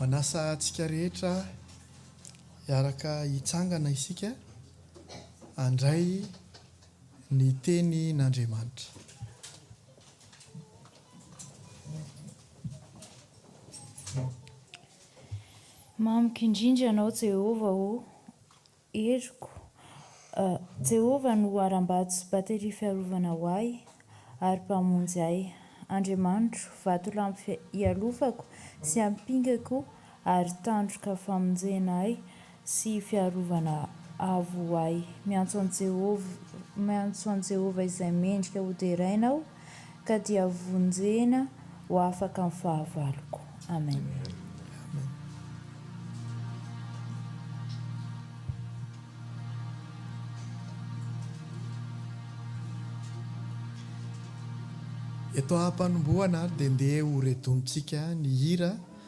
Manasa antsika rehetra hiaraka hitsangana isika handray ny tenin'Andriamanitra. Mamiko indrindra Ianao Jehovah ô! Heriko, Jehovah no harambato sy bateria fiarovana ho ahy, ary Mpamonjy ahy. Andriamanitro, vatolampy hialofako sy ampingako ary tandroka famonjena ahy sy fiarovana avo ho ahy. Miantso an'i Jehovah, miantso an'i Jehovah izay mendrika ho deraina aho. ka dia vonjena ho afaka ny fahavaloko. Amen. Eto ampanombohana ary dia ndeha ho redon-tsika ny hira.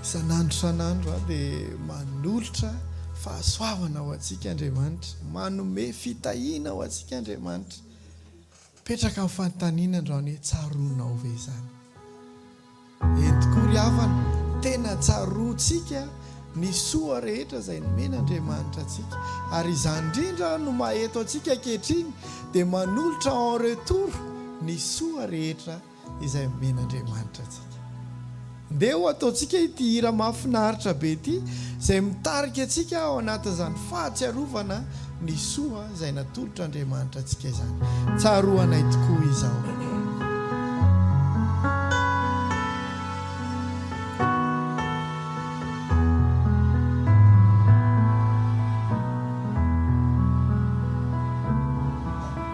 Isan'andro isan'andro aho dia manolotra fahasoavana ho antsika Andriamanitra, manome fitahiana ho antsika Andriamanitra. Mipetraka ny fanontaniana androany hoe tsaroanao ve izany? Eny tokoa ry havana, tena tsaroantsika ny soa rehetra izay nomen'Andriamanitra antsika. Ary izany indrindra no maha-eto antsika ankehitriny dia manolotra en retour ny soa rehetra izay omen'Andriamanitra antsika. Ndeha ho ataontsika ity hira mahafinaritra be ity izay mitarika antsika ao anatin'izany fahatsiarovana ny soa izay natolotr'Andriamanitra antsika izany. Tsaroanay tokoa izao.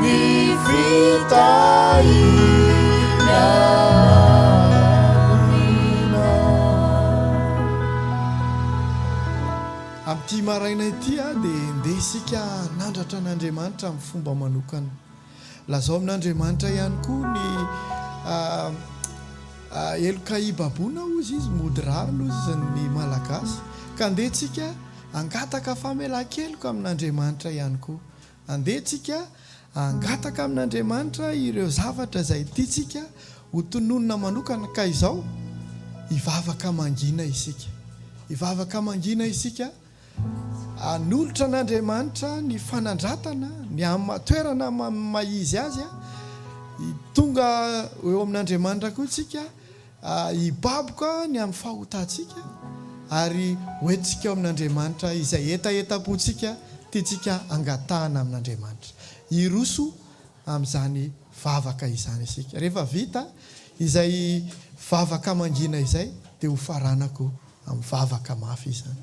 Ny fitahiana aoriana. Amin'ity maraina ity dia handeha isika hanandratra an'Andriamanitra amin'ny fomba manokana. Lazao amin'Andriamanitra ihany koa ny heloka hibaboana hozy izy, mody rariny hozy izy ny Malagasy. Ka handeha isika hangataka famelan-keloka amin'Andriamanitra ihany koa. Andeha tsika hangataka amin'Andriamanitra ireo zavatra izay tiantsika ho tononina manokana ka izao, hivavaka mangina isika. Hivavaka mangina isika hanolotra an'Andriamanitra ny fanandratana, ny amin'ny maha toerana amin'ny maha izy azy, tonga eo amin'Andriamanitra koa tsika, Hibaboka ny amin'ny fahotantsika ary hoentintsika ao amin'Andriamanitra izay hetahetam-pontsika tiantsika hangatahana amin'Andriamanitra. Hiroso amin'izany vavaka izany isika. Rehefa vita izay vavaka mangina izay dia ho faranako amin'ny vavaka mafy izany.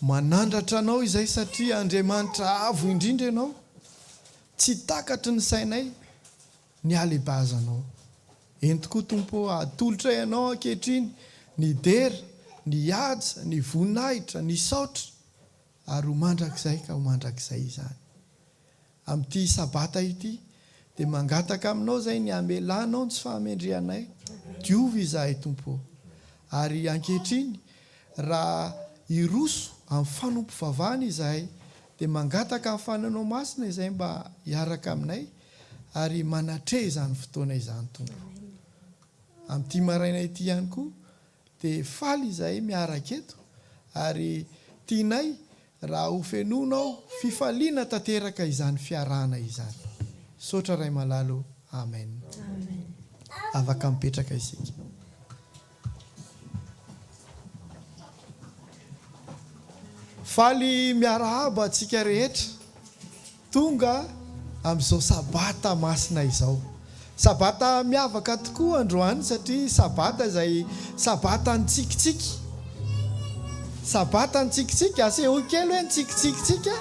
Manandratra Anao izay satria Andriamanitra avo indrindra Ianao, tsy takatry ny sainay ny halebaizanao. Ento koa Tompo ô, atolotray Anao ankehitriny ny dera, ny haja, ny voninahitra, ny saotra ary ho mandrakizay ka ho mandrakizay izany. Amin'ity Sabata ity, dia mangataka Aminao izay ny hamelanao ny tsy fahamendrehanay. Diovy izahay, Tompo ô. Ary ankehitriny, raha hiroso amin'ny fanompovavahana izahay, dia mangataka amin'ny Fanahinao Masina izay mba hiaraka aminay ary manatreha izany fotoana izany, Tompo. Amin'ity maraina ity ihany koa, Dia faly izahay miaraka eto ary tianay raha ho fenoinao fifaliana tanteraka izany fiarahana izany. Misaotra Ray malalo Amen. Avaka mipetraka isika. Faly miarahaba antsika rehetra. Tonga amin'izao Sabata masina izao. Sabata miavaka tokoa androany satria Sabata izay Sabata nitsikitsiky. Sabata nitsikitsiky, asehoy kely hoe nitsikitsiky tsika.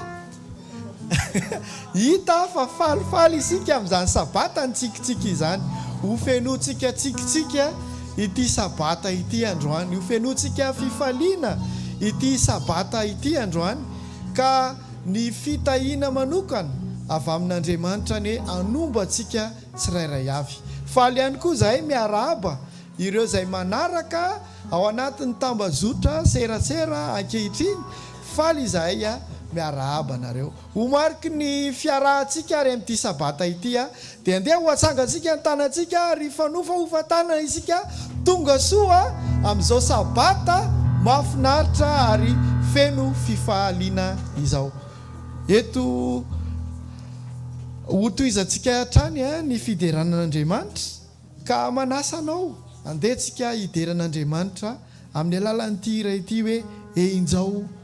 Hita fa falifaly isika amin'izany Sabata nitsikitsiky izany. Ho fenointsika tsikitsiky ity Sabata ity androany. Ho fenointsika fifaliana ity Sabata ity androany ka. Ny fitahiana manokana avy amin'Andriamanitra anie hanombo antsika tsirairay avy. Faly ihany koa izahay miarahaba ireo izay manaraka ao anatin'ny tambazotra serasera ankehitriny. Faly izahay miarahaba anareo. Ho mariky ny fiarahantsika ary amin'ity sabata ity Dia andeha ho atsangantsika ny tanantsika ary hifanofa hofan-tanana isika tonga soa amin'izao Sabata mahafinaritra ary feno fifahaliana izao. Eto hotohizantsika hatrany ny fiderana an'Andriamanitra ka manasa anao andeha tsika hidera an'Andriamanitra amin'ny alalan'ity hira ity hoe Enjao.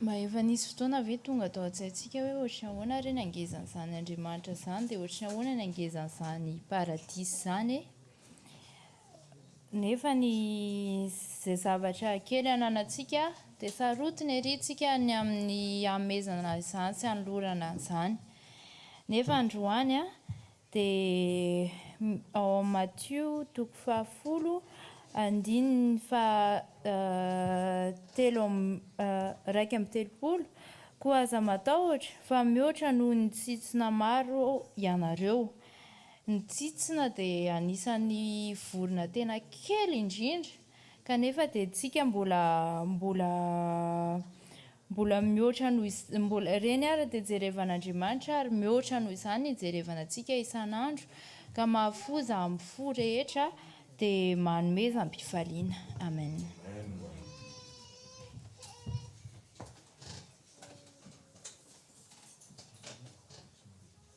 Mba efa nisy fotoana ve tonga tao an-tsaintsika hoe ohatry ny ahoana re ny hangezan'izany Andriamanitra izany, dia ohatry ny ahoana ny hangezan'izany paradisa izany e? Nefa ny izay zavatra kely ananantsika dia sarotiny ery isika ny amin'ny hanomezana izany sy hanolorana an'izany. Nefa androany an, Dia ao amin'ny Matio toko fahafolo andininy faha telo amby iraika amby telopolo, Koa aza matahotra, fa mihoatra noho ny tsitsina maro ianareo. Ny tsitsina dia anisan'ny vorona tena kely indrindra, kanefa dia isika mbola mbola Mbola mihoatra noho iz, mbola, ireny ary dia jerevan'Andriamanitra ary mihoatra noho izany ny ijerevana antsika isan'andro ka mahafoza amin'ny fo rehetra dia manomezam-pifaliana. Amen.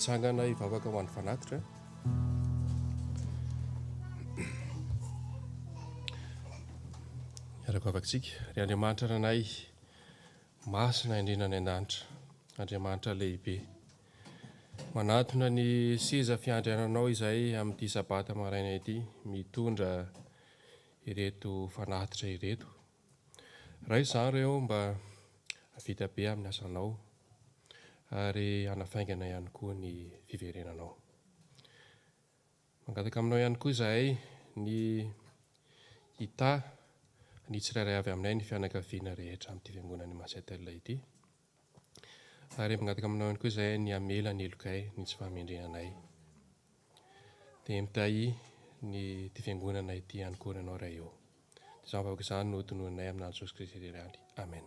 Tsangana hivavaka ho an'ny fanatitra. Miara-bavakantsika. Ry Andriamanitra nanay, masina indrindra any an-danitra, Andriamanitra lehibe. Manatona ny seza fiandriananao izahay amin'ity sabata maraina ity, mitondra ireto fanatitra ireto. Raiso izany ireo mba hahavita be amin'ny asanao ary hanafaingana ihany koa ny fiverenanao. Mangataka aminao ihany koa izahay ny hitaha ny tsirairay avy aminay ny fianakaviana rehetra amin'ity fiangonan'i Masetel ity. Ary mangataka aminao ihany koa izahay ny hamela ny helokay ny tsy fahamendrena anay. Dia mitahy ny ity fiangonana ity ihany koa ianao Ray ô. Dia izany vahoaka izany no hotononinay aminà Jesosy Kristy ry Ray. Amen.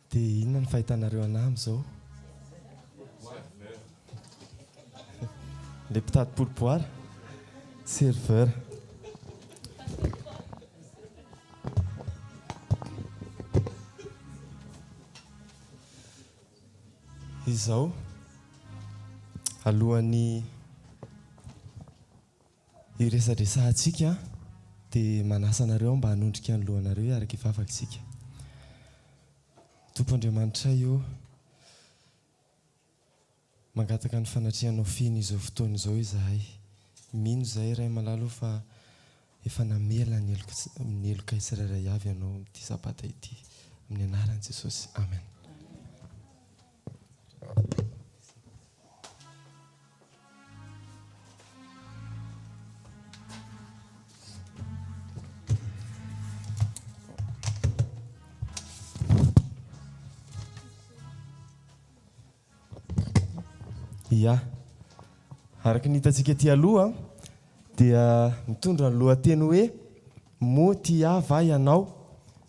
Dia inona ny fahitanareo anah amin'izao? Ilay mpitady poloboara? Serveur. Izao, alohan'ny. Iresadresahantsika dia manasa anareo aho mba hanondrika ny lohanareo hiaraka hivavaka isika. Tompo Andriamanitray o! Mangataka ny fanatrehanao feno izao fotoana izao izahay. Mino izahay Ray malala o fa efa namela ny ny helokay tsirairay avy Ianao amin'ity Sabata ity. Amin'ny anaran'i Jesosy, Amen. Ya, araka ny hitantsika aty aloha dia mitondra ny lohateny hoe Moa tia ahy va ianao?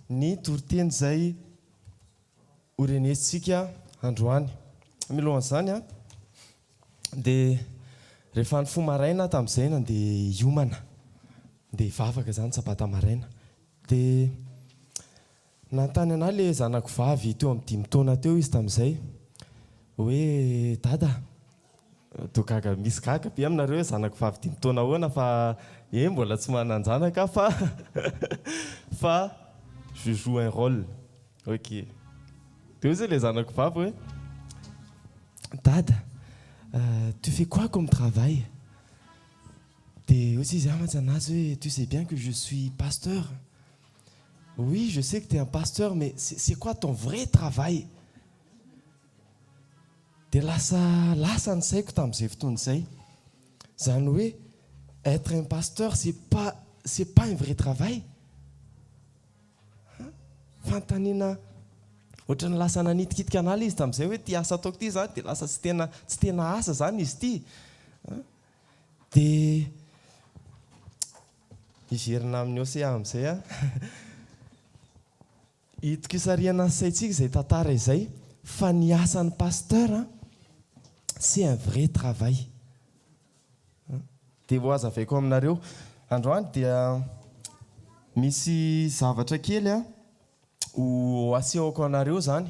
ny toriteny izay ho renesintsika androany. Milohan'izany dia rehefa nifoha maraina tamin'izay nandeha hiomana, handeha hivavaka izany sabata maraina, dia nanontany an'ahy ilay zanako vavy teo amin'ny dimy taona teo izy tamin'izay hoe, Dada, Toa gaga misy gaga be aminareo hoe zanako vavy dimy taona ahoana fa eh mbola tsy manan-janaka aho fa fa je joue un rôle ok de hoy zay le zanako vavy hoe dada tu fais quoi comme travail de hoy zay izy ah mantsanazy hoe tu sais bien que je suis pasteur oui je sais que tu es un pasteur mais c'est c'est quoi ton vrai travail Dia lasa lasa ny saiko tamin'izay fotoana izay. Izany hoe être un pasteur c'est pas c'est pas un vrai travail an! Fanontaniana ohatran'ny lasa nanitikitika an'ala izy tamin'izay hoe ity asa ataoko ity zany dia lasa tsy tena tsy tena asa zany izy ity an! Dia hiverina amin'ny Hosea amin'izay aho. Itokisarihana ny saintsika izay tantara izay fa ny asan'ny pasteur an c'est un vrai travail an! Dia ho hazavaiko aminareo androany dia misy zavatra kely an ho asehoko anareo izany.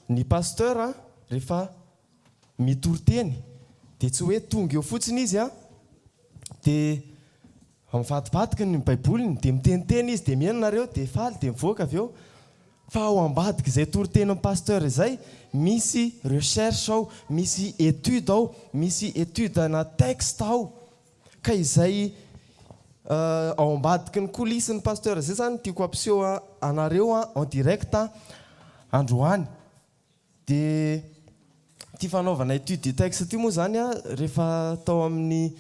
Ny pasteur rehefa mitory teny dia tsy hoe tonga eo fotsiny izy an, dia mivadibadiky ny baiboliny dia miteniteny izy dia mihaino nareo dia faly dia mivoaka avy eo fa ao ambadiky izay toritenin'ny pasteur izay misy recherche ao, misy étude ao, misy étude ana texte ao. Ka izay ao ambadiky ny coulisse ny Pasteur zay zany tiako ampiseho anareo en direct androany de ity fanaovana étude de texte ity moa zany rehefa tao amin'ny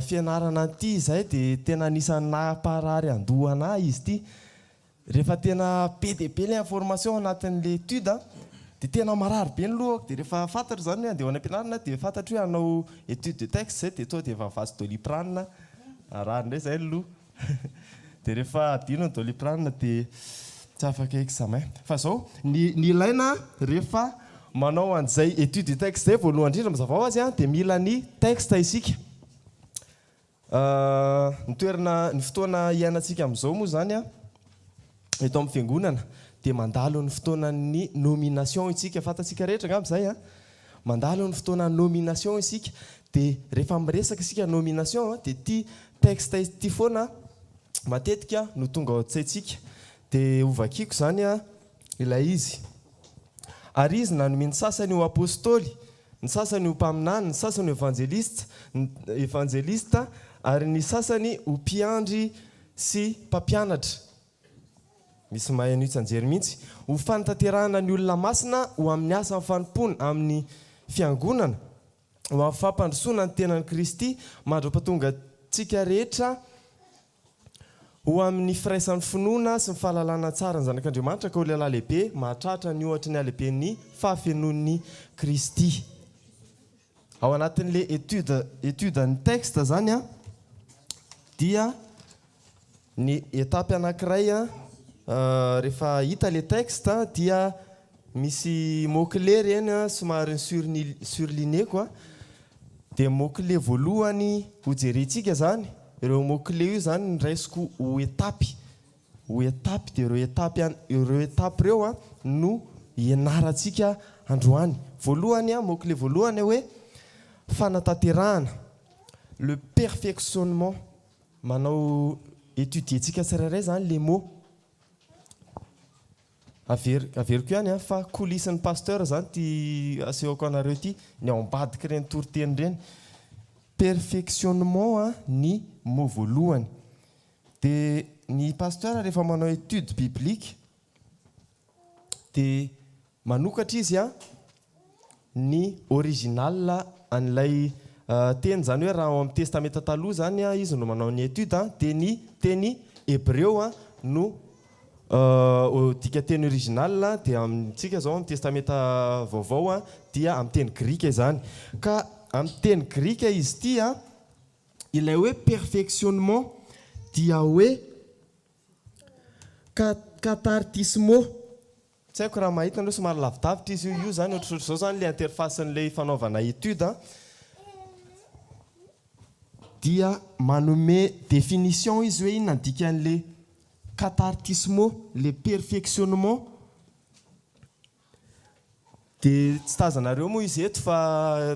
fianarana ity izahay de tena anisan'ny nampaharary andoha anah izy ity Rehefa tena be dia be ilay information ao anatin'ilay étude dia tena marary be ny lohako, dia rehefa fantatro izany hoe handeha ho any am-pianarana dia fantatro hoe hanao étude de texte izay dia tonga dia efa vazo doliprane, marary indray izay ny loha dia rehefa adino ny doliprane dia tsy afaka examen. Fa izao, ny ny ilaina rehefa manao an'izay étude de texte izay voalohany indrindra mazava ho azy dia mila ny texte isika. Ny toerana, ny fotoana iainantsika amin'izao moa izany eto amin'ny fiangonana dia mandalo ny fotoanan'ny nomination isika, fantatsika rehetra angamba izay an! mandalo ny fotoana nomination isika dia rehefa miresaka isika nomination dia ity texte ity foana matetika no tonga ao an-tsaintsika dia hovakiako izany ilay izy, Ary Izy nanome ny sasany ho apostoly, ny sasany ho mpaminany, ny sasany ho evanjelista, evanjelista, ary ny sasany ho mpiandry sy mpampianatra. Misy mahay an'io tsianjery mihitsy. Ho fanatanterahana ny olona masina ho amin'ny asan'ny fanompoana amin'ny Fiangonana, ho amin'ny fampandrosoana ny tenan'i Kristy mandra-pahatongantsika rehetra Ho amin'ny firaisan'ny finoana sy ny fahalalana tsara ny Zanak'Andriamanitra ka ho lehilahy lehibe, mahatratra ny ohatry ny halehiben'ny fahafenoan'i Kristy. Ao anatin'ilay étude, étude an'ny texte zany dia ny étape anankiray rehefa hita ilay texte dia Misy mots clés ireny an, somary ny surligneko an, dia mots clés voalohany ho jerentsika izany, ireo mots clés io izany no raisiko ho etapy, ho etapy dia ireo etapy an, ireo etapy ireo an no hianarantsika androany. Voalohany an, mots clés voalohany hoe fanatanterahana, le perfectionnement, manao étudier-tsika tsirairay izany le mot. Averiko averiko ihany an, fa coulisse ny pasteur zany ty asehoko anareo ty, ny ao ambadiky reny toriteny reny, perfectionnement an ny mot voalohany, de ny pasteur rehefa manao etude biblique de manokatra izy an, ny original an'ilay teny, izany hoe raha ao amin'ny Testamenta Taloha izany izy no manao ny étude dia ny teny hebreo no dikanteny original dia amintsika izao amin'ny Testamenta Vaovao dia amin'ny teny grika izany ka amin'ny teny grika izy ity ilay hoe perfectionnement dia hoe kathartismo. Tsy haiko raha mahita anareo somary lavidavitra izy io io zany ohatrohatry zao zany le interface n'le ifanaovana étude an, dia manome définition izy hoe inona ny dikan'le cathartismo le perfectionnement de tsy tazanareo moa izy eto fa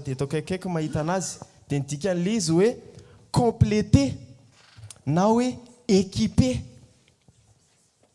eto akaikikaiky no mahita anazy de ny dikan'le izy hoe compléter na hoe équiper.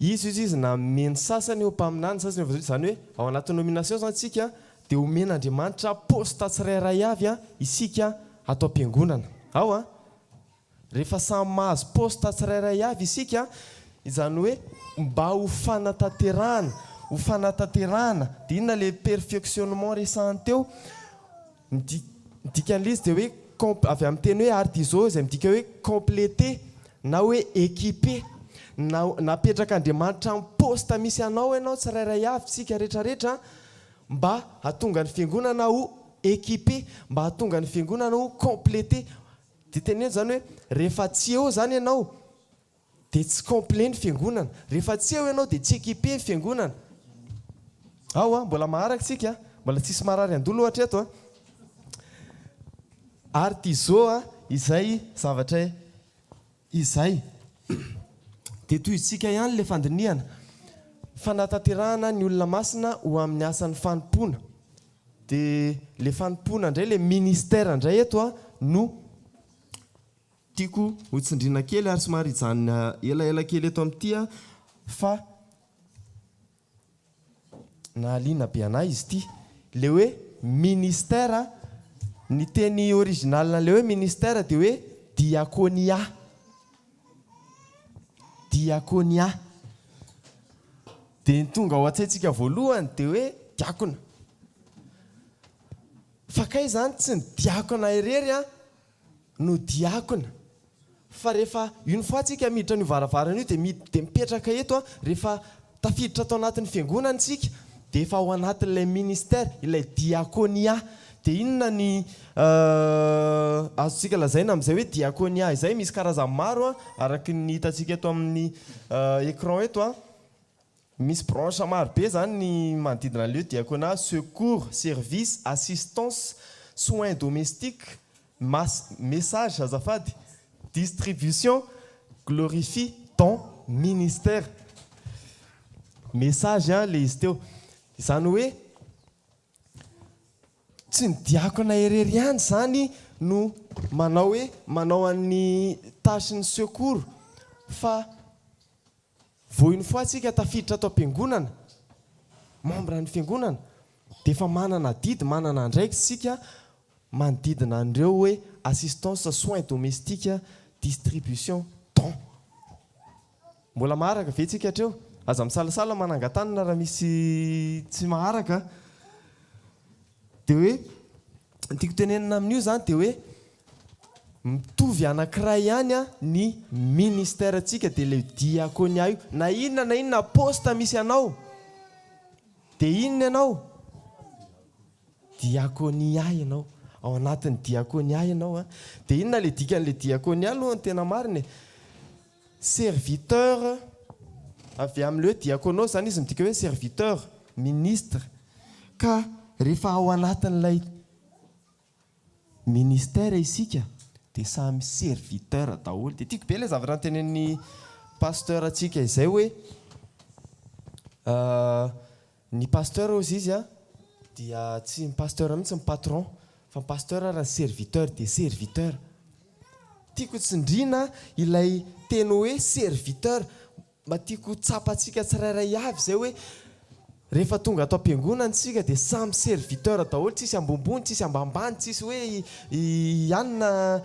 Izy hoy izy nanome ny sasany ho mpaminany, ny sasany ho evanjelisty, izany hoe ao anaty nomination izany isika dia homen'Andriamanitra poste tsirairay avy isika ato am-piangonana ao an! rehefa samy mahazo poste tsirairay avy isika izany hoe mba ho fanatanterahana, ho fanatanterahana, dia inona ilay perfectionnement resahiny teo? Ny di, ny dikan'ilay izy dia hoe comp, avy amin'ny teny hoe artizo izay midika hoe completer na hoe équiper. Na, napetrak'Andriamanitra amin'ny poste misy anao ianao tsirairay avy, isika rehetrarehetra, mba hahatonga ny Fiangonana ho équiper, mba hahatonga ny Fiangonana ho completer. Dia teneno izany hoe rehefa tsy eo izany ianao, Dia tsy complet ny fiangonana. Rehefa tsy eo ianao dia tsy équipé ny fiangonana. Ao an, mbola maharaka isika an. Mbola tsisy marary an-doha ohatra eto an. Ary Tizo an, izay zavatra izay. Dia tohizotsika ihany ilay fandinihana. Fanatanterahana ny olona masina ho amin'ny asan'ny fanompoana. Dia ilay fanompoana indray, ilay ministère indray eto an, no. Tiako ho tsindriana kely ary somary hijanona elaela kely eto amin'ity aho fa nahaliana be an'ahy izy ity. Ilay hoe ministère, ny teny original an'ilay hoe ministère dia hoe diakonia. Diakonia. Dia ny tonga ao an-tsaintsika voalohany dia hoe diakona. Fa kay izany tsy ny diakona irery an! no diakona fa rehefa une fois tsika miditra an'io varavarana io dia miditra dia mipetraka eto a, rehefa tafiditra ato anatin'ny fiangonana tsika dia efa ao anatin'ilay ministère, ilay diakonia, dia inona ny azontsika lazaina amin'izay hoe diakonia izay, misy karazany maro a, araky ny hitantsika eto amin'ny ecran eto a. Misy branches maro be izany ny manodidina ny lieux diaconat, secours, service, assistance, soins domestiques, mas, message azafady, distribution, glorifie, don, ministère, message an le izy teo izany hoe tsy ny diakona irery ihany izany no manao hoe manao an'ny tâche ny secours fa Vao une fois tsika tafiditra ato am-piangonana, membre ny fiangonana, dia efa manana adidy, manana andraikitra tsika manodidina an'ireo hoe assistance soins domestiques, distribution don. Mbola maharaka ve tsika hatreo? Aza misalasala manangan-tanana raha misy tsy maharaka. Dia hoe, ny tiako tenenina amin'io izany dia hoe, mitovy anankiray ihany ny ministère-ntsika, dia ilay diakonia io. Na inona na inona poste misy anao, dia inona ianao? Diakonia ianao, ao anatin'ny diakonia ianao. Dia inona ilay dikan'ilay diakonia aloha ny tena marina e? Serviteur, avy amin'ny hoe diakonos izany izy, midika hoe serviteur, ministre. Ka rehefa ao anatin'ilay ministère isika dia samy serviteur daholo. Dia tiako be ilay zavatra notenenin'ny pasteur-ntsika izay hoe, Ny pasteur ozy izy a dia tsy ny pasteur mihitsy ny patron fa ny pasteur ary ny serviteur dia serviteur. Tiako ho tsindriana ilay teny hoe serviteur mba tiako ho tsapantsika tsirairay avy izay hoe rehefa tonga ato am-piangonana isika dia samy serviteur daholo tsisy ambonimbony tsisy ambanimbany tsisy hoe i anona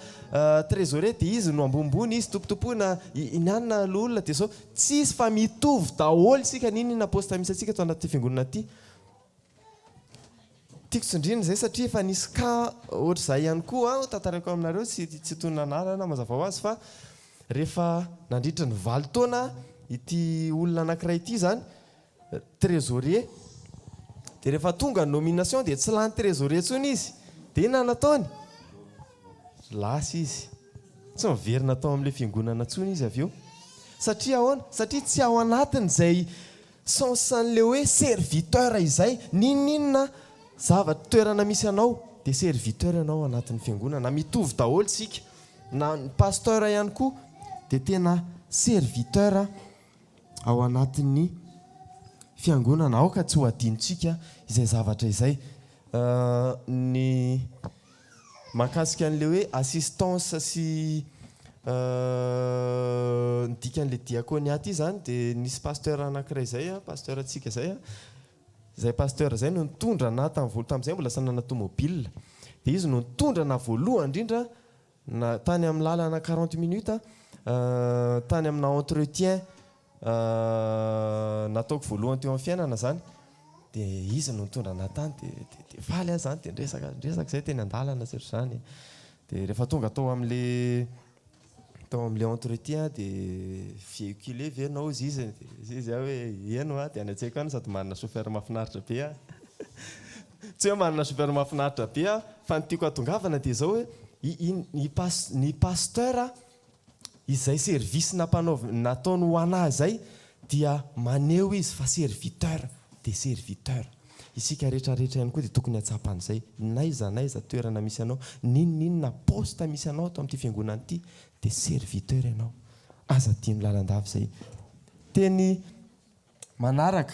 trésorier dia izy no ambonimbony izy tompotompoina i anona loholona dia izao Tsis fa mitovy daholo isika n'inona n'inona poste misy antsika eto anaty fiangonana ity. Tiako tsindrina izay satria efa nisy cas ohatr'izay ihany koa aho tantaraiko aminareo tsy tsy toy ny nanarana aho mazava ho azy fa rehefa nandritra ny valo taona ity olona anankiray ity izany trésorier dia rehefa tonga ny nomination dia tsy lany trésorier intsony izy dia inona no ataony? lasa izy tsy miverina tao amin'ilay fiangonana intsony izy avy eo satria ahoana? satria tsy ao anatin'izay sens an'ilay hoe serviteur izay n'inon'inona zavatra toerana misy anao dia serviteur ianao ao anatin'ny fiangonana mitovy daholo isika na ny pasteur ihany koa dia tena serviteur ao anatin'ny Fiangonana. Aoka tsy ho adinontsika izay zavatra izay. Ny mahakasika an'ilay hoe assistance sy ny dikan'ilay diaconia ity izany dia nisy pasteur anankiray izay, pasteurtsika izay, izay pasteur izay no nitondra anà tamin'ny voalohany, tamin'izay mbola tsy nanana tomobile, dia izy no nitondra anà voalohany indrindra, Na tany amin'ny lalana quarante minutes tany amina entretien nataoko voalohany teo amin'ny fiainana izany dia izy no nitondra anah tany dia dia faly aho izany dia niresaka niresaka izay teny an-dalana sy ohatr'izany dia rehefa tonga tao amin'ilay tao amin'ilay entretien dia véhiculer ve ianao hozy izy dia hoy izy aho hoe ieny hoa dia any an-tsaiko any sady manana chauffeur mahafinaritra be aho. Tsy hoe manana chauffeur mahafinaritra be aho fa ny tiako hatongavana dia izao hoe ny pasteur izay service nataony ho anah izay dia maneho izy fa serviteur dia serviteur. Isika rehetra rehetra ihany koa dia tokony hahatsapa an'izay. N'aiza n'aiza toerana misy anao, n'inon'inona poste misy anao ato amin'ity fiangonana ity dia serviteur ianao. Aza adino lalandava izay. Teny manaraka.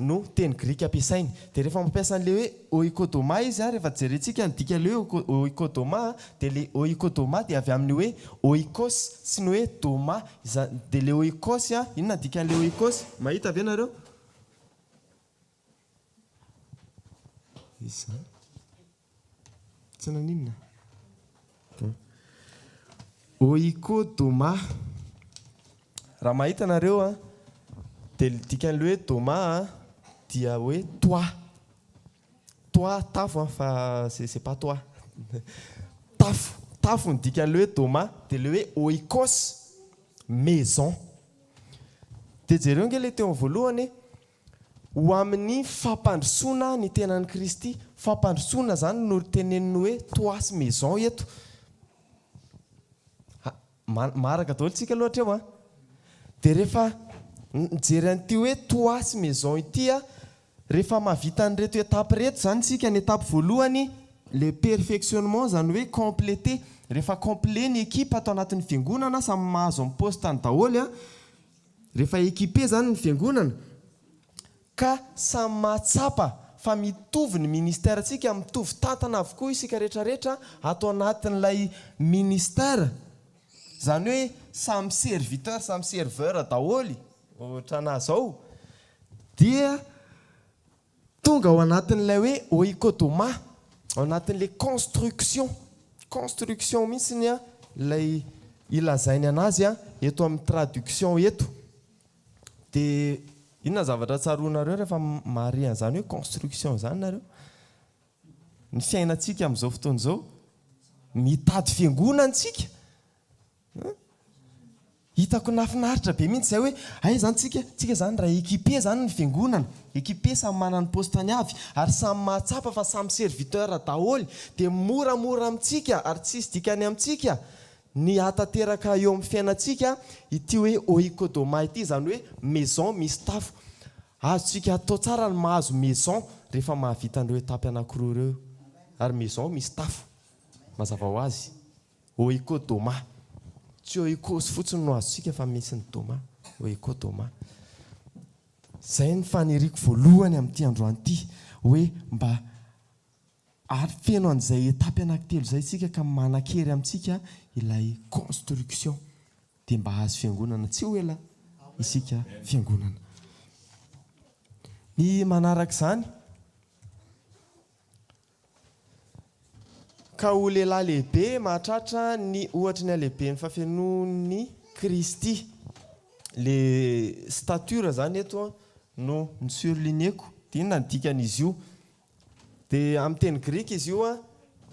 no teny grika ampiasainy. Dia rehefa mampiasa an'ilay hoe oikodomà izy an, rehefa jerentsika ny dikan'ilay hoe oikodomà an, dia ilay oikodomà dia avy amin'ny hoe oikos sy ny hoe domà. Izany dia ilay oikos an, inona ny dikan'ilay oikos? Mahita ve ianareo? Izany. Tsy naninona? Ohiko Doma. Raha mahita nareo an, dia ny dikan'ny hoe Doma an, dia hoe toit. Toit, tafo an, fa c'est c'est pas toi. Tafo, tafo ny dikan'ilay hoe Doma. Dia ilay hoe Oikos, maison. Dia jereo ange ilay teo amin'ny voalohany e. Ho amin'ny fampandrosoana ny tenan'i Kristy. Fampandrosoana izany no teneniny hoe toi sy maison eto. Maharaka daholo tsika aloha hatreo an! Dia rehefa mijery an'ity hoe toi sy maison ity, rehefa mahavita an'ireto étape ireto izany isika, ny étape voalohany, le perfectionnement, izany hoe compléter, rehefa complet ny ekipa ato anatin'ny fiangonana, samy mahazo ny poste-ny daholo an! Rehefa équipé izany ny fiangonana ka samy mahatsapa fa mitovy ny ministère ntsika, mitovy tantana avokoa isika rehetra rehetra ato anatin'ilay ministère, izany hoe samy serviteur, samy serveur daholo ohatrana zao dia Tonga ao anatin'ilay hoe oikodomà, ao anatin'ilay construction, construction mihitsy ny ilay ilazainy anazy eto amin'ny traduction eto. Dia inona zavatra tsaroanareo rehefa mahare an'izany hoe construction izany nareo? Ny fiainantsika amin'izao fotoana izao, mitady fiangonana isika, Hitako nahafinaritra be mihitsy izay hoe hay izany tsika tsika izany raha équipe zany ny fiangonana, équipe samy manana ny poste-ny avy ary samy mahatsapa fa samy serviteur daholo dia moramora amintsika ary tsy hisy dikany amintsika ny hahatanteraka eo amin'ny fiainantsika ity hoe oikodomai ity izany hoe maison misy tafo. Azontsika atao tsara ny mahazo maison rehefa mahavita an'ireo étape anakiroa ireo ary maison misy tafo mazava ho azy. Ohiko Doma. Tsy Ohiko fotsiny no azontsika fa misy ny Doma. Ohiko Doma. Izay ny faniriako voalohany amin'ity androany ity hoe mba afeno an'izay etapy anakitelo izay isika ka manan-kery amintsika ilay construction dia mba hahazo fiangonana tsy ho ela isika fiangonana. Ny manaraka izany. Ka ho lehilahy lehibe mahatratra ny ohatry ny halehiben'ny fahafenoan'i Kristy. Ilay stature izany eto no ni-surligner-ko, dia inona ny dikan'izy io? Dia amin'ny teny grika izy io,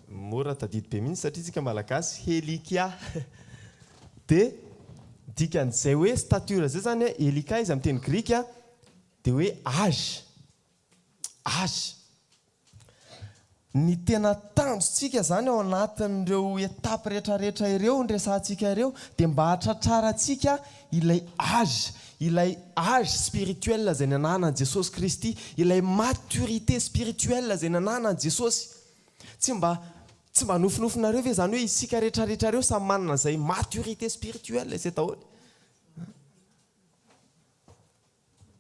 mora tadidy be mihitsy satria isika Malagasy, helikia. Dia ny dikan'izay hoe stature izay izany hoe helikia izy amin'ny teny grika dia hoe âge, âge. Ny tena tanjontsika izany ao anatin'ireo etapes rehetrarehetra ireo niresahantsika ireo dia mba hahatratrarantsika ilay âge, ilay âge spirituel izay nananan'i Jesosy Kristy, ilay maturité spirituelle izay nananan'i Jesosy. Tsy mba tsy mba nofinofinareo ve izany hoe isika rehetrarehetra ireo samy manana an'izay maturité spirituelle izay daholo?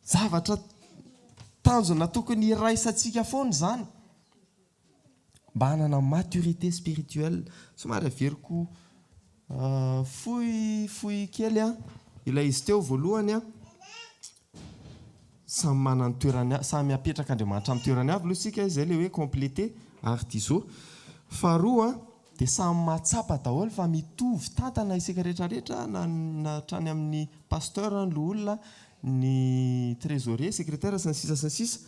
Zavatra tanjona tokony hiraisantsika foana izany mba hanana maturité spirituelle. Somary averiko fohifohy kely ilay izy teo voalohany. Samy manana ny toerany, samy apetrak'Andriamanitra amin'ny toerany avy aloha isika, izay ilay hoe compléter ary Dizo. Faharoa. Dia samy mahatsapa daholo fa mitovy tantana isika rehetra rehetra na ny hatrany amin'ny Pasteur, ny loholona, ny Trésorier, Secrétaire sy ny sisa sy ny sisa.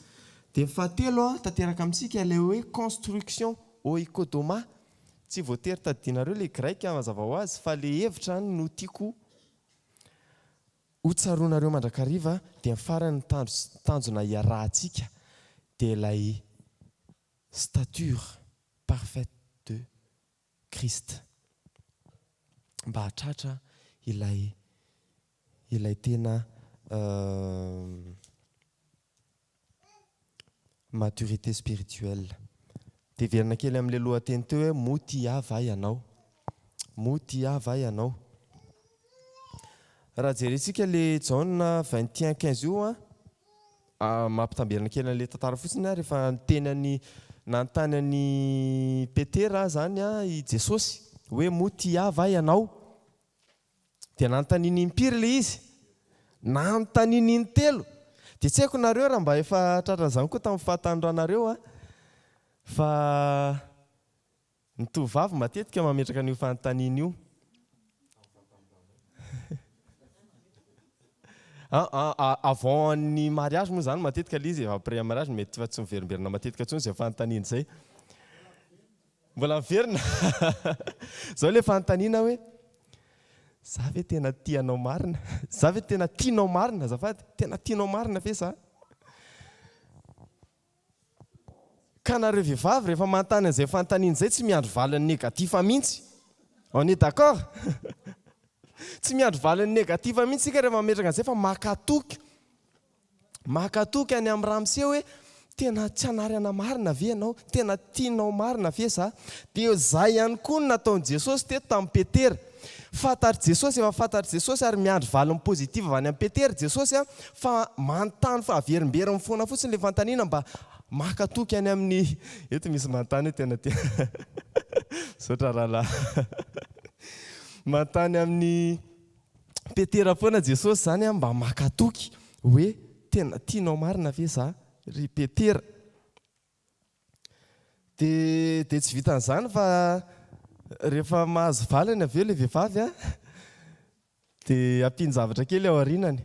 Dia ny fahatelo tanteraka amintsika ilay hoe construction, oikodomà. Tsy voatery tadidinareo ilay grec mazava ho azy fa ilay hevitra ihany no tiako ho tsaroanareo mandrakariva dia ny farany ny tanjona iarahantsika dia ilay stature parfaite de Christ mba hahatratra ilay ilay tena maturité spirituelle. Deverina kely amin'ilay lohateny teo hoe moa tia ahy va ianao? Moa tia ahy va ianao? Raha jerentsika ilay Jaona 21 15 io an, Mampitamberina kely an'ilay tantara fotsiny ary efa niteny an'i, nanontany an'i Petera izany i Jesosy hoe moa tia Ahy va ianao? Dia nanontaniany impiry ilay izy? Nanontaniany intelo! Dia tsy haiko nareo raha mba efa tratran'izany koa tamin'ny fahatanorànareo an! Fa Ny tovovavy matetika mametraka an'io fanontaniana io. Avant ny mariage moa zany matetika le izy, après mariage mety fa tsy miverimberina matetika intsony izay fanontaniana izay. Mbola miverina. Zao le fanontaniana hoe za ve tena tia anao marina? Za ve tena tianao marina azafady? Tena tianao marina ve za? Ka nareo vehivavy rehefa manontany an'izay fanontaniana izay tsy miandry valiny negatif mihintsy. On est d'accord? Tsy miandry valiny negatif mihintsy isika rehefa mametraka an'izay fa maka toky. Maka toky any amin'i ramose hoe tena tsy hanarana marina ve ianao? Tena tianao marina ve za? Dia izay ihany koa no nataon'i Jesosy teto tamin'i Petera. Fantatr'i Jesosy, efa fantatr'i Jesosy ary miandry valiny positive avy any amin'i Petera i Jesosy a, fa manontany fa averimberiny foana fotsiny ilay fanontaniana mba maka toky any amin'ny, eto misy manontany hoe tena tia misaotra rahalahy manontany amin'i Petera foana Jesosy izany a mba maka toky hoe tena tianao marina ve izaho ry Petera? Dia dia tsy vitan'izany fa rehefa mahazo valiny avy eo ilay vehivavy a, dia ampian-javatra kely ao aorianany,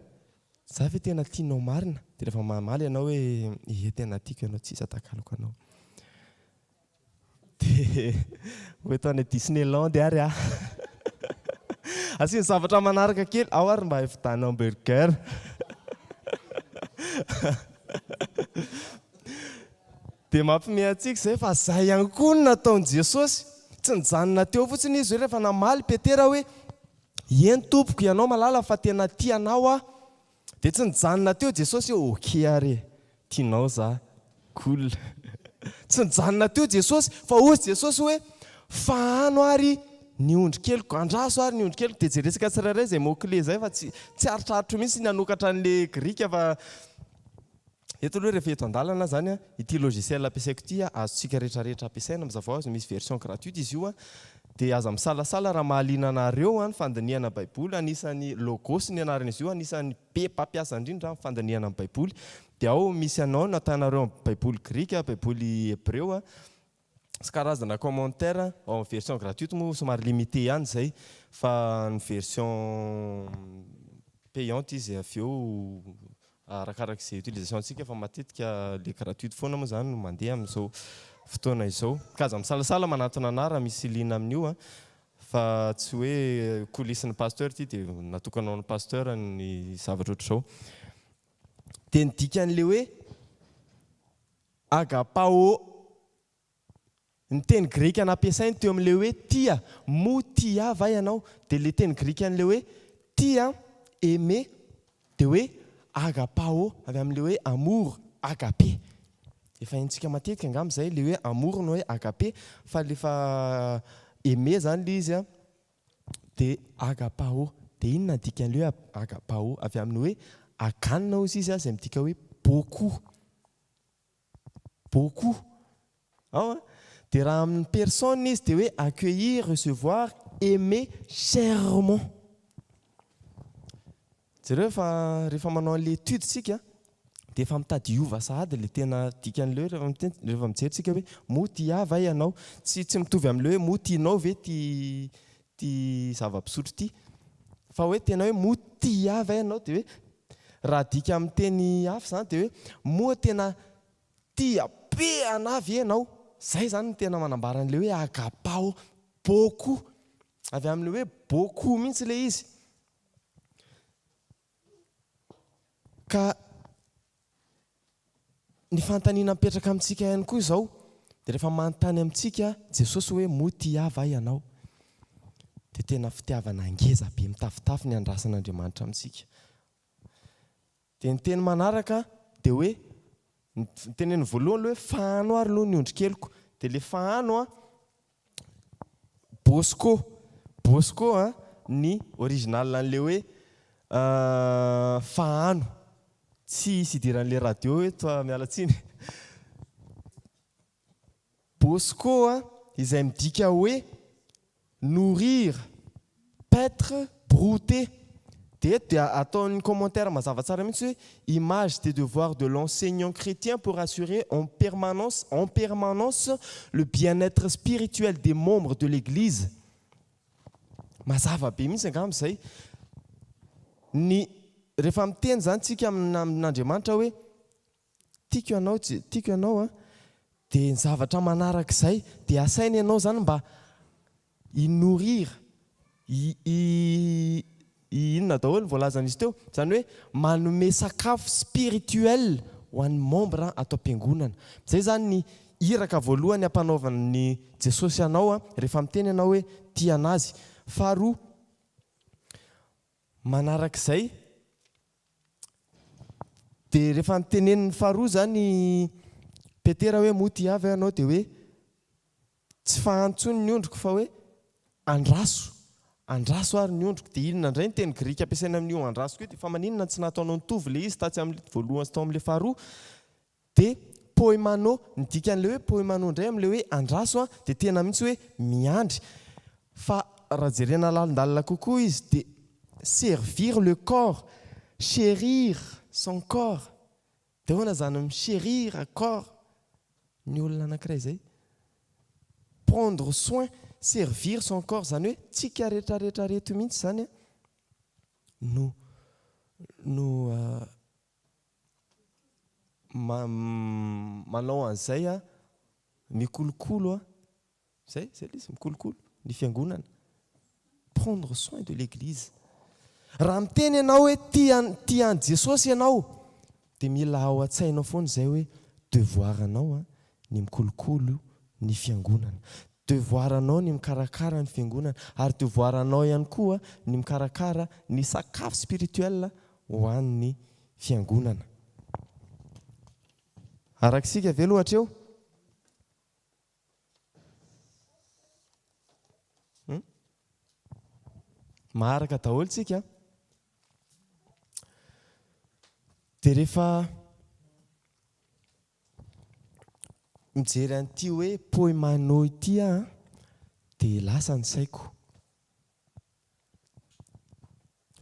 za ve tena tianao marina? Dia rehefa mamaly ianao hoe ie tena tiako ianao tsy iza takaloko anao. Dia ho eto any Disneyland ary aho. Asiany zavatra manaraka kely, ao ary mba hividianao hamburger. Dia mampiomehy antsika izay fa izay ihany koa no nataon'i Jesosy. Tsy nijanona teo fotsiny Izy hoe rehefa namaly Petera hoe, Eny Tompoko, Ianao malala fa tena tia Anao aho. Dia tsy nijanona teo Jesosy hoe ok ary e, tianao za, cool. Tsy nijanona teo Jesosy fa hozy Jesosy hoe fahano ary ny ondry keliko, andraso ary ny ondry keliko. Dia jerentsika tsirairay izay mot clé izay fa tsy tsy aritratro mihitsy ny hanokatra an'ilay grika fa. Eto aloha rehefa eto an-dalana izany an, ity logiciel ampiasaiko ity an, azontsika rehetra rehetra ampiasaina mazava hoazy, misy version gratuite izy io an, dia aza misalasala raha mahaliana anareo ny fandinihana baiboly, anisan'ny logos ny anaran'izy io, anisan'ny be mpampiasa indrindra amin'ny fandinihana ny baiboly, dia ao misy anao na tianareo baiboly grika, baiboly hebreo an, sy karazana commentaire ao amin'ny version gratuite moa somary limité ihany izay fa ny version payante izy avy eo arakaraka izay utilisation antsika fa matetika ilay gratuite foana moa izany no mandeha amin'izao fotoana izao ka aza misalasala manantona anah raha misy liana amin'io an fa tsy hoe coulisse ny pasteur ity dia natokana ho an'ny pasteur ny zavatra ohatr'izao dia ny dikan'ilay hoe Agapao. Ny teny grika nampiasainy teo amin'ilay hoe tia, mo ti'a va ianao, dia ilay teny grikan'ilay hoe tia, aimer, dia hoe agapao, avy amin'ilay hoe amour, agape. Efa haintsika matetika angamba izay, ilay hoe amour no hoe agape, fa rehefa aimer izany ilay izy dia agapao. Dia inona no dikan'ilay hoe agapao? Avy amin'ny hoe aganna hozy izy izay midika hoe beaucoup. beaucoup ao an, dia raha amin'ny personne izy dia hoe accueillir, recevoir, aimer chèrement. Jereo fa rehefa manao an'ilay étude isika dia efa mitady hiova sahady ilay tena dikan'ilay hoe rehefa mijery isika hoe moa tia ahy va ianao? Tsy mitovy amin'ilay hoe moa tianao ve ity ity zava-pisotro ity. Fa hoe tena hoe moa tia ahy ve ianao dia hoe raha adika amin'ny teny hafa izany dia hoe moa tena tia be anah ve ianao. Izay izany no tena manambara an'ilay hoe agapao beaucoup. Avy amin'ilay hoe beaucoup mihitsy ilay izy. Ka ny fanontaniana mipetraka amintsika ihany koa izao dia rehefa manontany amintsika Jesosy hoe moa tia va ianao? dia tena fitiavana ngeza be mitafotafo ny andrasan'Andriamanitra amintsika. Dia ny teny manaraka dia hoe ny teneniny voalohany hoe fahano ary aloha ny ondrikeliko dia ilay fahano a Bosco Bosco a ny original an'le hoe fahano tsy hisy hidiran'le radio eto a miala tsiny Bosco a izay midika hoe nourrir Peintre brouter dia eto dia ataony commentaire mazava tsara mihitsy hoe image des devoirs de l'enseignant chrétien pour assurer en permanence en permanence le bien-être spirituel des membres de l'église mazava be mihitsy angamba izay ny rehefa miteny izany tsika amin'Andriamanitra hoe Tiako ianao tsy tiako ianao a dia ny zavatra manaraka izay dia asaina ianao izany mba hi nourrir hi hi hi inona daholo ny voalazan'izy teo izany hoe manome sakafo spirituel ho an'ny membre ato am-piangonana izay izany ny iraka voalohany ampanaovan'i Jesosy anao a rehefa miteny ianao hoe tia an'azy faharoa Manarak'izay dia rehefa notenenin'ny faharoa izany i Petera hoe moa tia ahy ve ianao dia hoe tsy fahantsony ny ondriko fa hoe andraso, andraso ary ny ondriko. Dia inona indray ny teny grika ampiasaina amin'io andraso io dia fa maninona tsy nataonao nitovy ilay izy tatsy amin'ny voalohany sy tao amin'ilay faharoa? Dia poemano, ny dikan'ilay hoe poemano indray amin'ilay hoe andraso an, dia tena mihitsy hoe miandry. Fa raha jerena lalindalina kokoa izy dia servir le corps, cherir son corps. Dia ahoana izany mi-cherir corps ny olona anankiray izay? Prendre soin, servir son corps, izany hoe tsika retraretra reto mihitsy izany no no manao an'izay aho, mikolokolo aho, izay, izay ilay izy, mikolokolo ny fiangonana, prendre soin de l'église. Raha miteny ianao hoe tia an'i tia an'i Jesosy ianao dia mila ao an-tsainao foana izay hoe devoir anao ny mikolokolo ny fiangonana, devoir anao ny mikarakara ny fiangonana ary devoir anao ihany koa ny mikarakara ny sakafo spirituel ho an'ny Fiangonana. Araka isika ve loatra eo? Hum? Maharaka daholo tsika. Dia rehefa mijery an'ity hoe poimano ity aho, dia lasa ny saiko.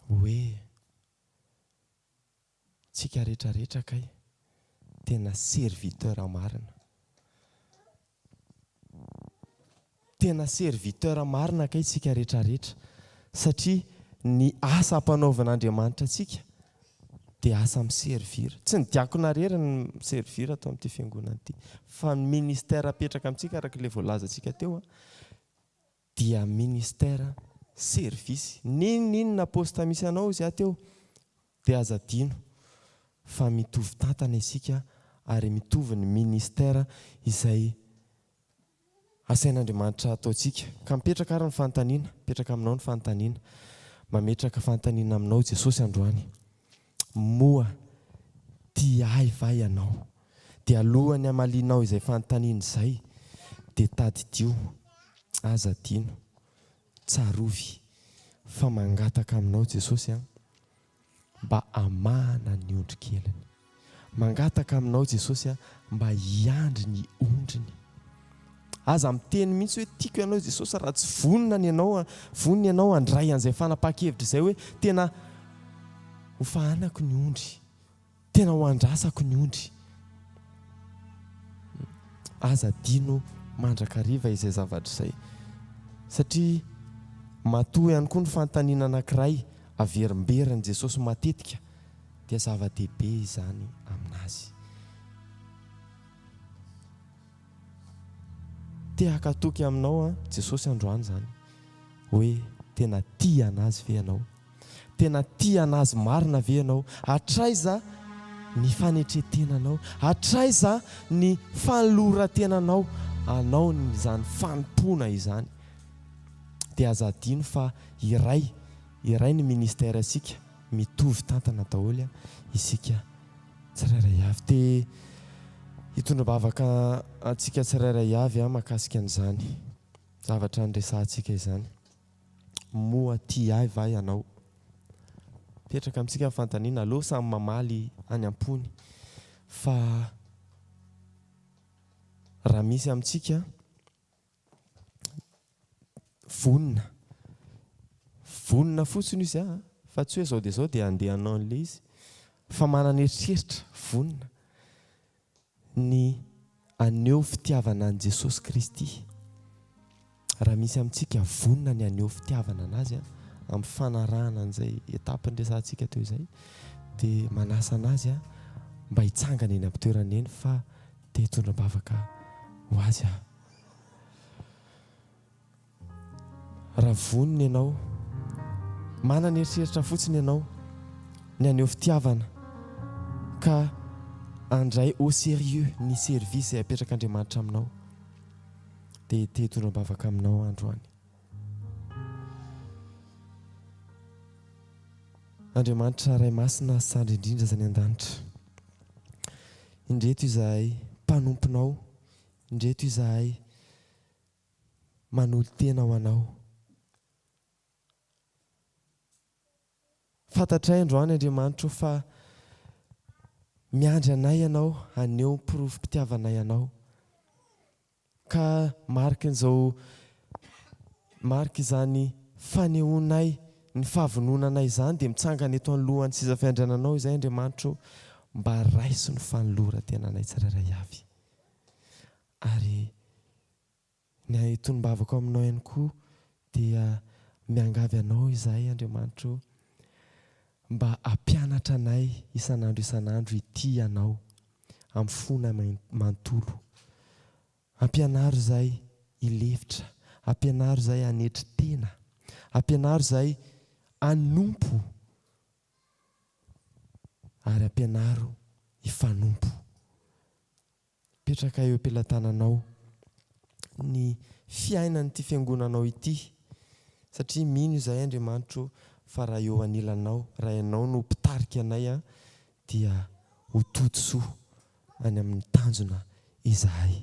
Hoe, tsika rehetra rehetra kay tena serviteur marina. Tena serviteur marina kay tsika rehetra rehetra satria ny asa ampanaovin'Andriamanitra antsika dia asa mi servir. Tsy ny diakona rery no mi servir ato amin'ity fiangonana ity fa ny ministère apetraka amintsika araka ilay voalazantsika teo. Dia ministère, service, n'inon'inona poste misy anao izy aty eo dia aza adino fa mitovy tantana isika ary mitovy ny ministère izay asain'Andriamanitra hataontsika. Ka mipetraka ary ny fanontaniana, mipetraka aminao ny fanontaniana. Mametraka fanontaniana aminao Jesosy androany. Moa tia ahy va ianao? Dia alohan'ny hamalianao izay fanontaniana izay, dia tadidio, aza adino, tsarovy fa mangataka aminao Jesosy an, mba hamahana ny ondrikeliny. Mangataka aminao Jesosy an, mba hiandry ny ondriny. Aza miteny mihitsy hoe tiako ianao Jesosy raha tsy vonona ny anao, vonona ianao handray an'izay fanapahan-kevitra izay hoe tena ho fahanako ny ondry, tena ho andrasako ny ondry. Aza adino mandrakariva izay zavatra izay. Satria matoa ihany koa ny fanontaniana anankiray averimberin'i Jesosy matetika dia zava-dehibe izany aminazy. Te hakatoky Aminao an Jesosy androany izany hoe tena tia an'Azy ve ianao? Tena tia an'Azy marina ve ianao? Hatraiza ny fanetretenanao? Hatraiza ny fanolorantenanao anao izany fanompoana izany? Dia aza adino fa iray, iray ny ministère sika, mitovy tantana daholo isika Tsirairay avy. Te hitondra-bavaka antsika tsirairay avy aho mahakasika an'izany zavatra niresahantsika izany. Moa tia ahy va ianao? Mipetraka amintsika ny fanontaniana. Aleo samy mamaly any am-pony fa raha misy amintsika Vonona. Vonona fotsiny io za fa tsy hoe izao dia izao dia handeha hanao an'ilay izy fa manana eritreritra vonona ny haneho fitiavana an'i Jesosy Kristy. Raha misy amintsika vonona ny haneho fitiavana an'Azy amin'ny fanarahana an'izay étape niresahantsika teo izay dia manasa an'Azy mba hitsangana eny am-pitoerany eny fa te hitondra am-bavaka ho Azy aho. Raha vonona ianao, manana eritreritra fotsiny ianao ny haneho fitiavana ka handray au sérieux ny service izay apetrak'Andriamanitra aminao dia te hitondra am-bavaka aminao aho androany. Andriamanitra Ray Masina sy Sandry indrindra izay any an-danitra, indreto izahay mpanomponao Indreto izahay manolo-tena ho Anao. Fantatray androany, Andriamanitro, fa miandry anay Ianao haneho ny porofom-pitiavanay Anao. Ka marikin'izao, marik'izany fanehoanay ny fahavononanay izany dia mitsangana eto anoloan'ny seza fiandriananao izay, Andriamanitro ô, mba raiso ny fanoloran-tenanay tsirairay avy. Ary ny tonom-bavako aminao ihany koa dia miangavy anao izahay, Andriamanitra ô, mba hampianatra anay isan'andro isan'andro hitia anao amin'ny fonay manontolo. Ampianaro izahay hilefitra, ampianaro izahay hanetry tena, ampianaro izahay hanompo Ary ampianaro hifanompo. Apetraka eo am-pelatananao ny fiainan'ity fiangonanao ity, satria mino izahay, Andriamanitra o, fa raha eo anilanao, raha ianao no mpitarika anay, dia ho tody soa any amin'ny tanjona izahay.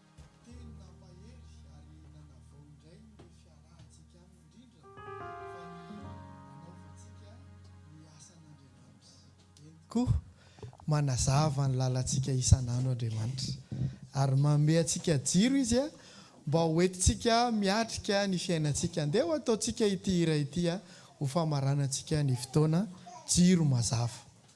Teny nampahery ary nanavao indray ny fiarahantsika aminy indrindra fa ny nanaovantsika ny asan'Andriamanitra. Eny tokoa, manazava ny lalantsika isan'andro Andriamanitra ary manome antsika jiro Izy mba ho entintsika miatrika ny fiainantsika. Andeha ho ataontsika ity hira ity ho famaranantsika ny fotoana, Jiro mazava.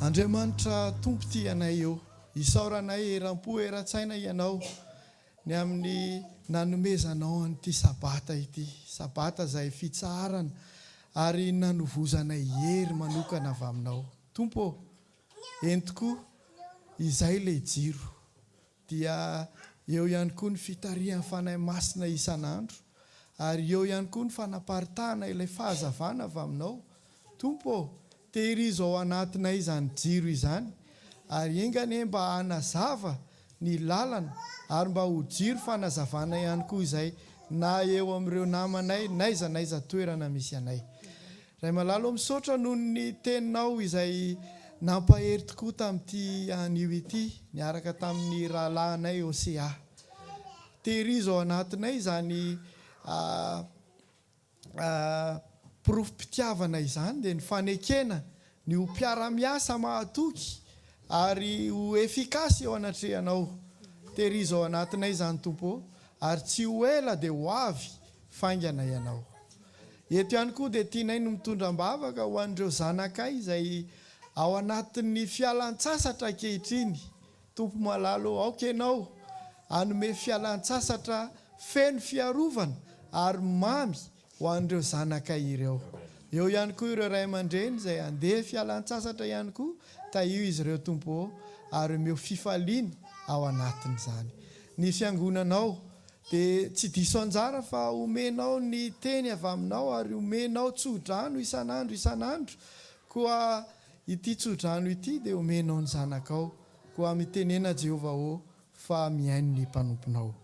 Andriamanitra Tompo tia anay eo. Isaoranay eram-po eran-tsaina Ianao ny amin'ny nanomezanao an'ity Sabata ity. Sabata izay fitsaharana ary nanovozanay hery manokana avy Aminao. Tompo ô, entiko izay ilay jiro. dia eo ihany koa ny fitarihan'ny Fanahy Masina isan'andro, ary eo ihany koa ny fanaparitahana ilay fahazavana avy Aminao. Tompo ô, tehirizo ao anatinay izany jiro izany, ary enga anie mba hanazava ny lalana, ary mba ho jiro fanazavana ihany koa izay na eo amin'ireo namanay n'aiza n'aiza toerana misy anay. Ray malala o misaotra noho ny teninao izay nampahery tokoa tamin'ity anio ity niaraka tamin'ny rahalahinay Océa. Tehirizo ao anatinay izany porofom-pitiavana izany dia ny fanekena ny ho mpiara-miasa mahatoky ary ho efficace eo anatrehanao. Tehirizo ao anatinay izany Tompo ô ary tsy ho ela dia ho avy faingana ianao. Eto ihany koa dia tianay ny mitondra am-bavaka ho an'ireo zanakay izay ao anatin'ny fialan-tsasatra ankehitriny. Tompo malala ô, aoka Ianao hanome fialan-tsasatra feno fiarovana ary mamy ho an'ireo zanakay ireo. Eo ihany koa ireo ray aman-dreny izay handeha fialan-tsasatra ihany koa, tahio izy ireo Tompo ô, ary omeo fifaliana ao anatin'izany ny Fiangonanao Dia tsy diso anjara fa omenao ny teny avy aminao ary omenao tso-drano isan'andro isan'andro, koa ity tso-drano ity dia omenao ny zanakao, koa mitenena Jehovah ô, fa mihaino ny mpanomponao.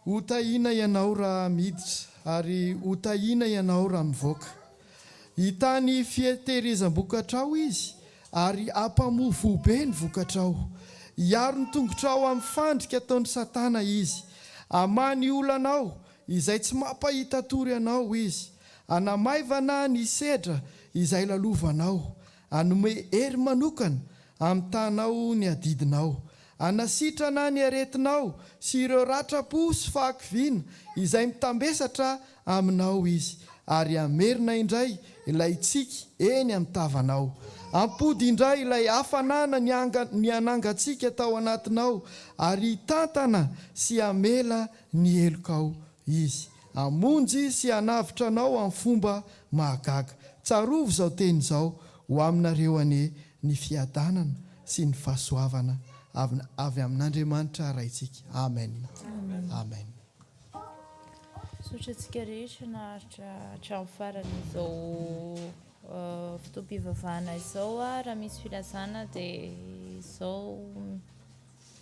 Ho tahiana ianao raha miditra, ary ho tahiana ianao raha mivoaka. Hitany fieteherezam-bokatrao Izy, ary hampamofoho be ny vokatrao. Hiaro ny tongotrao amin'ny fandrika ataon'i Satana Izy. Hamaha ny olanao izay tsy mampahita tory anao Izy. Hanamaivana ny sedra izay lalovanao. Hanome hery manokana, hamitànao ny adidinao, hanasitrana ny aretinao sy ireo ratram-po sy fahakiviana izay mitambesatra aminao Izy, ary hamerina indray ilay tsiky eny amin'ny tavanao. Hampody indray ilay hafanana nihanangantsika tao anatinao, ary hitantana sy hamela ny helokao Izy. Hamonjy sy hanavotra anao amin'ny fomba mahagaga. Tsarovy izao teny izao, Ho aminareo anie ny fiadanana sy ny fahasoavana avy amin'Andriamanitra Raintsika. Amen. Amen. Misaotra antsika rehetra naharitra hatramin'ny farany izao fotoam-pivavahana izao. Raha misy filazana dia izao.